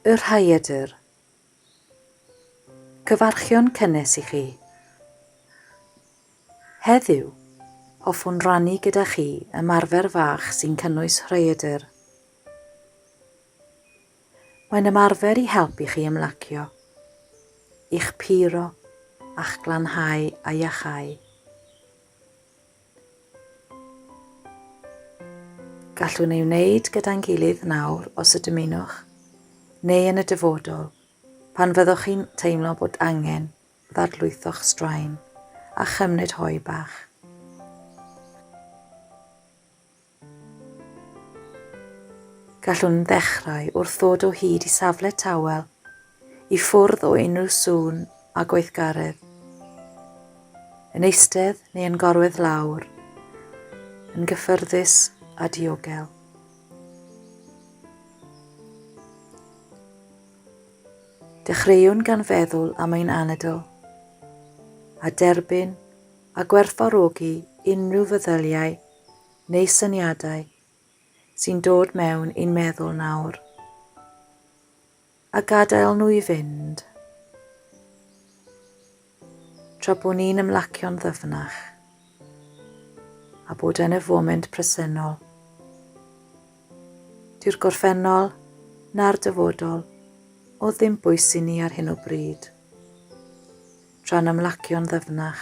Y Rhaeadr. Cyfarchion cynnes i chi. Heddiw, hoffwn rannu gyda chi ymarfer fach sy'n cynnwys rhaeadr. Mae'n ymarfer i helpu chi ymlacio, i'ch puro, a'ch glanhau a iachau. Gallwn ei wneud gyda'n gilydd nawr os y dymunwch, neu yn y dyfodol, pan fyddwch chi'n teimlo bod angen ddarlwytho'ch straen a chymryd hoe bach. Gallwn ddechrau wrth ddod o hyd i safle tawel, i ffwrdd o unrhyw sŵn a gweithgaredd. Yn eistedd neu yn gorwedd lawr, yn gyffyrddus a diogel. Dechreuwn gan feddwl am ein anadl, a derbyn a gwerthfawrogi unrhyw feddyliau neu syniadau sy'n dod mewn i'n meddwl nawr, a gadael nhw i fynd tra bod ni'n ymlacio'n ddyfnach a bod yn y foment presennol. Dyw'r gorffennol na'r dyfodol o ddim bwys i ni ar hyn o bryd. Tra'n ymlacio'n ddyfnach.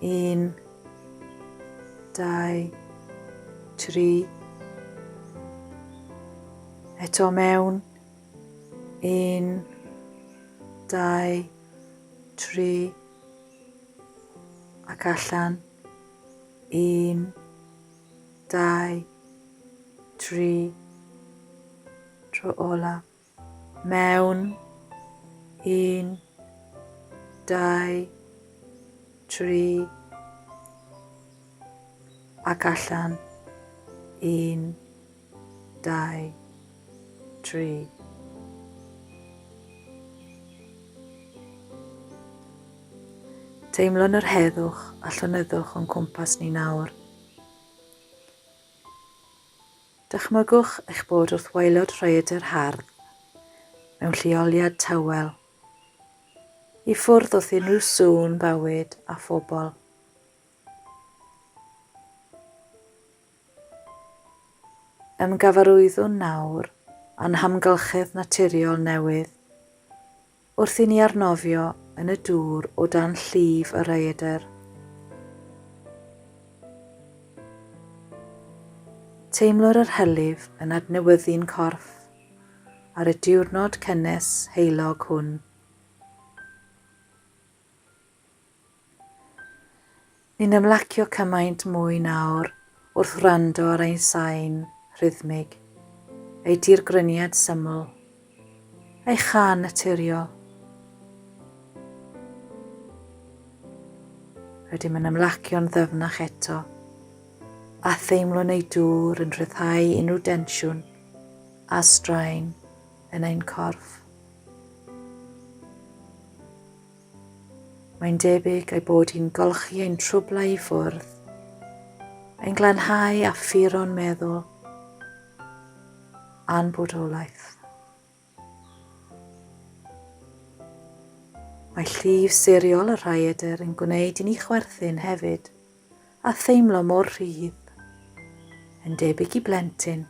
Un, dau, tri. Eto mewn. Un, dau, tri. Ac allan. Un, dau, tri. Tro olaf. Mewn un, dau, tri, ac allan. Un, dau, tri. Teimlwn yr heddwch a llonyddwch o'n cwmpas ni nawr. Dychmygwch eich bod wrth waelod rhaeadr hardd, mewn lleoliad tawel, i ffwrdd wrth unrhyw sŵn bywyd a phobl. Ymgyfarwyddwn nawr â'n hamgylchedd naturiol newydd. Wrth i ni arnofio yn y dŵr o dan llif y rhaeadr, teimlwn yr hylif yn adnewyddu'n corff ar y diwrnod cynnes heulog hwn. Ni'n ymlacio cymaint mwy nawr wrth wrando ar ein sain rhythmig, ei dirgryniad syml, ei chân naturiol. Rydym yn ymlacio'n ddyfnach eto, a theimlo'n ei dŵr yn rhyddhau unrhyw densiwn a straen yn ein corff. Mae'n debyg ei bod hi'n golchi ein trwblau i ffwrdd. Mae'n glanhau a ffuron meddwl a'n bodolaeth. Mae llif seriol y rhaeadr yn gwneud i ni chwerthin hefyd a theimlo mor rhydd. Yn debyg i blentyn,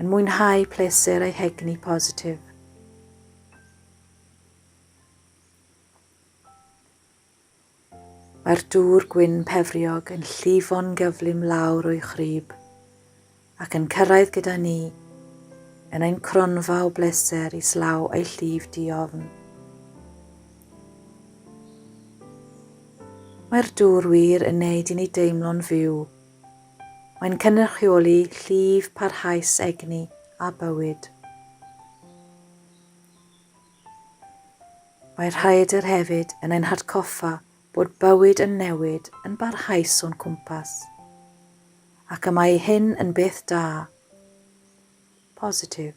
yn mwynhau pleser ei hegni positif. Mae'r dŵr gwyn pefriog yn llifo'n gyflym lawr o'i chrib, ac yn cyrraedd gyda ni, yn ein cronfa o bleser islaw a'i llif diofn. Mae'r dŵr wir yn neud i ni deimlo'n fyw. Mae'n cynrychioli llif parhaus egni a bywyd. Mae Rhaeadr hefyd yn ein hatgoffa bod bywyd yn newid yn barhaus o'n cwmpas, ac y mae hyn yn beth da, positif,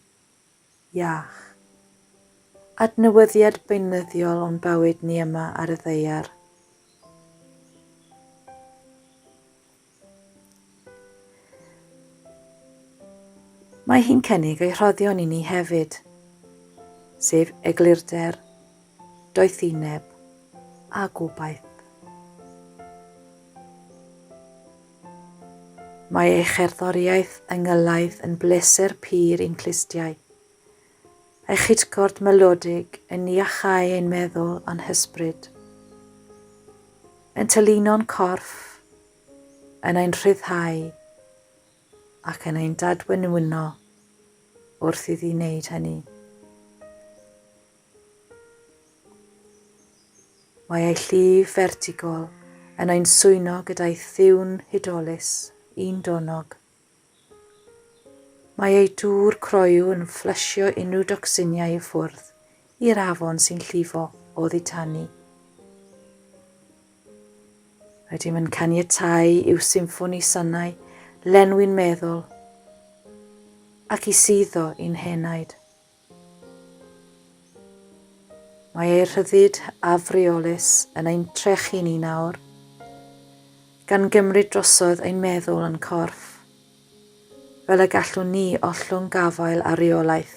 iach. Adnewyddiad beunyddiol o'n bywyd ni yma ar y ddaear. Mae hi'n cynnig ei rhoddion i ni hefyd, sef eglurder, doethineb a gobaith. Mae ei cherddoriaeth yng Ngylaidd yn bleser pur i'n clustiau, Ei chytgord melodig yn iachau ein meddwl a'n hysbryd. Yn tylino'n corff, yn ein rhyddhau ac yn ein dadwenwyno wrth iddi wneud hynny. Mae ei llif fertigol yn ein swyno gyda'i thiwn hudolus, un donog, Mae ei dŵr croyw yn fflysio unrhyw docsiniau i ffwrdd i'r afon sy'n llifo oddi tani. Rydym yn caniatáu i'w symffoni sonau lenwi'n meddwl ac i suddo i'n henaid. Mae ei rhyddid afreolus yn ein trechu ni nawr, gan gymryd drosodd ein meddwl yn corff, fel y gallwn ni ollwng gafael ar reolaeth,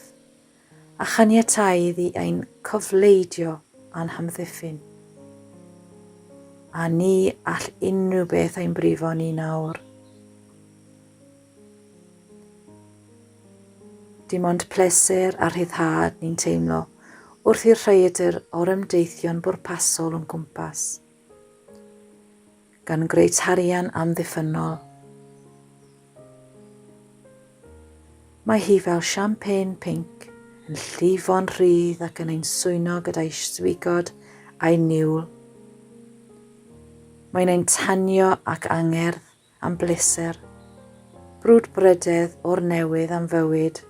a chaniatáu iddi ein cofleidio a'n hamddiffyn. A ni all unrhyw beth ein brifo ni nawr. Dim ond pleser a rhyddhad ni'n teimlo wrth i'r rhaeadr orymdeithio'n bwrpasol o'n cwmpas, gan greu tarian amddiffynnol. Mae hi fel champagne pinc, yn llifo'n rhydd ac yn ein swyno gyda'i swigod a'i niwl. Mae'n ein tanio ac angerdd am bleser, brwdfrydedd o'r newydd am fywyd.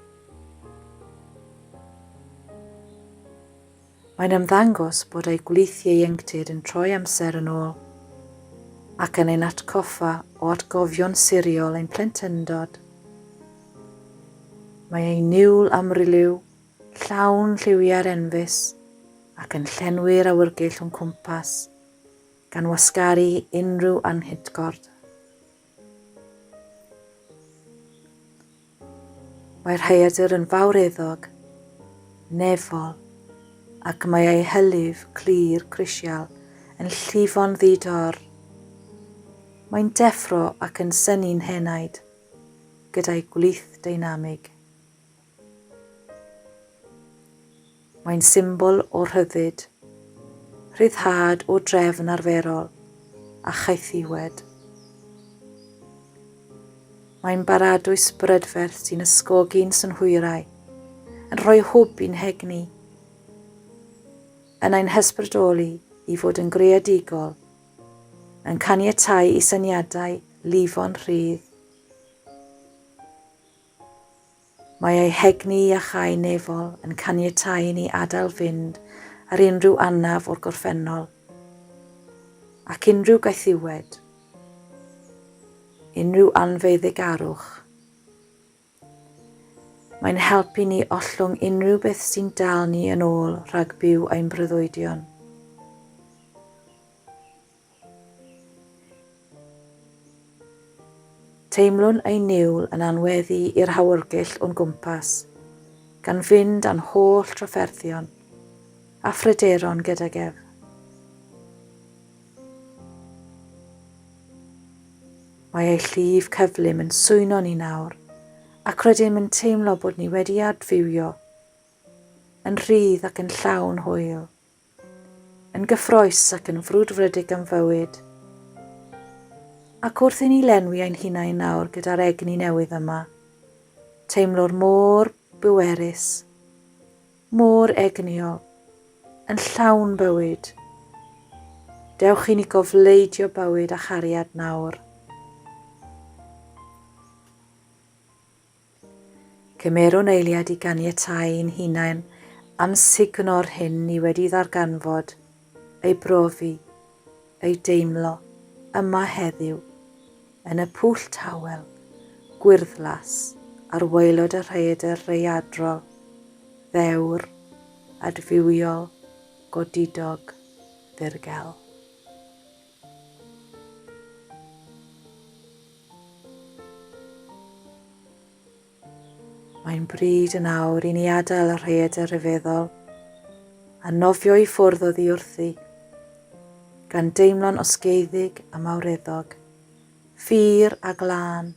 Mae'n ymddangos bod ei gwlith ieuenctid yn troi amser yn ôl ac yn ein atgoffa o atgofion siriol ein plentyndod. Mae ei niwl amryliw, llawn lliwiau'r enfys ac yn llenwi'r awyrgeill o'n cwmpas. gan wasgaru unrhyw anghydgord. Mae'r rhaeadr yn fawreddog, nefol, ac mae ei hylif clir crisial yn llifo'n ddi-dor. Mae'n deffro ac yn synnu'n henaid, gyda'i gwlith deinamig. Mae'n symbol o rhyddid, rhyddhad o drefn arferol a chaethiwed. Mae'n baradwys brydferth sy'n ysgogi'n synhwyrau, yn rhoi hwb i'n hegni, yn ein hysbrydoli i fod yn greadigol, yn caniatau i syniadau lifo'n rhydd. Mae ei hegni a chau nefol yn caniatáu i ni adael fynd ar unrhyw anaf o'r gorffennol, ac unrhyw gaethiwed, unrhyw anfeuddigarwch. Mae'n helpu ni ollwng unrhyw beth sy'n dal ni yn ôl rhag byw ein breuddwydion. Teimlwn ei niwl yn anweddu i'r hawyrgyll o'n gwmpas, gan fynd â'n holl drafferthion a phryderon gydag ef. Mae ei llif cyflym yn swyno ni nawr, ac rydym yn teimlo bod ni wedi adfywio yn rhydd ac yn llawn hwyl. Yn gyffrous ac yn frwdfrydig am fywyd. Ac wrth i ni lenwi ein hunain nawr gyda'r egni newydd yma, teimlwr mor bwerus, mor egnïol, yn llawn bywyd. Dewch i ni gofleidio bywyd a chariad nawr. Cymerwn eiliad i ganiatáu i'n hunain amsugno'r hyn ni wedi ddarganfod, ei brofi, ei deimlo, yma heddiw, yn y pwll tawel, gwyrddlas, ar waelod y rhaeadr raeadrol, ddewr, adfywiol, godidog, ddirgel. Mae'n bryd yn awr i ni adael y rhaeadr rhyfeddol a nofio i ffwrdd oddi wrthi, gan deimlo'n osgeiddig a mawreddog, ffyr a glân,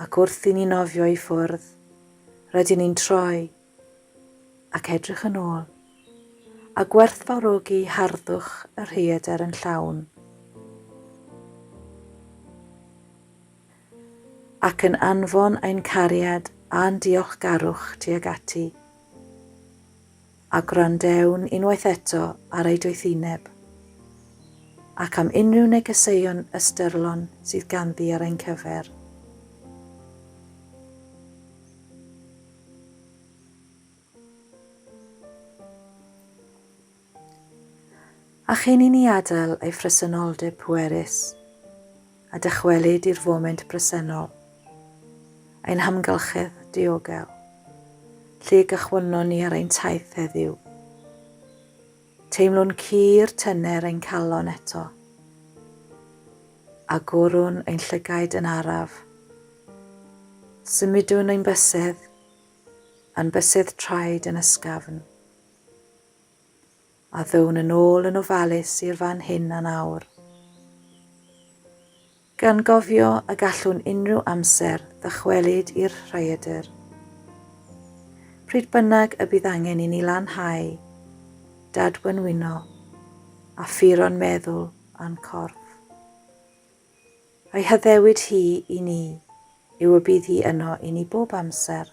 ac wrth i ni nofio i ffwrdd, rydyn ni'n troi ac edrych yn ôl, a gwerthfawrogi harddwch y rhaeadr yn llawn, ac yn anfon ein cariad a'n diolchgarwch tuag ati, a gwrandewn unwaith eto ar ei doethineb, ac am unrhyw negeseuon ystyrlon sydd ganddi ar ein cyfer. A chyn i ni adael ei phresenoldeb pwerus a dychwelyd i'r foment bresennol, ein hamgylchedd diogel, lle gychwynnon ni ar ein taith heddiw, Teimlwn cur tyner ein calon eto, a gwrwn ein llygaid yn araf. Symudwn ein bysedd, a'n bysedd traed yn ysgafn, a ddown yn ôl yn ofalus i'r fan hyn a'n awr. Gan gofio y gallwn unrhyw amser ddychwelyd i'r rhaeadr. Pryd bynnag y bydd angen i ni lanhau, dadwenwyno, a phuro'n meddwl a'n corff. A'i haddewid hi i ni yw y bydd hi yno i ni bob amser.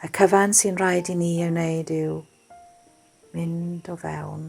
Y cyfan sy'n rhaid i ni ei wneud yw mynd o fewn.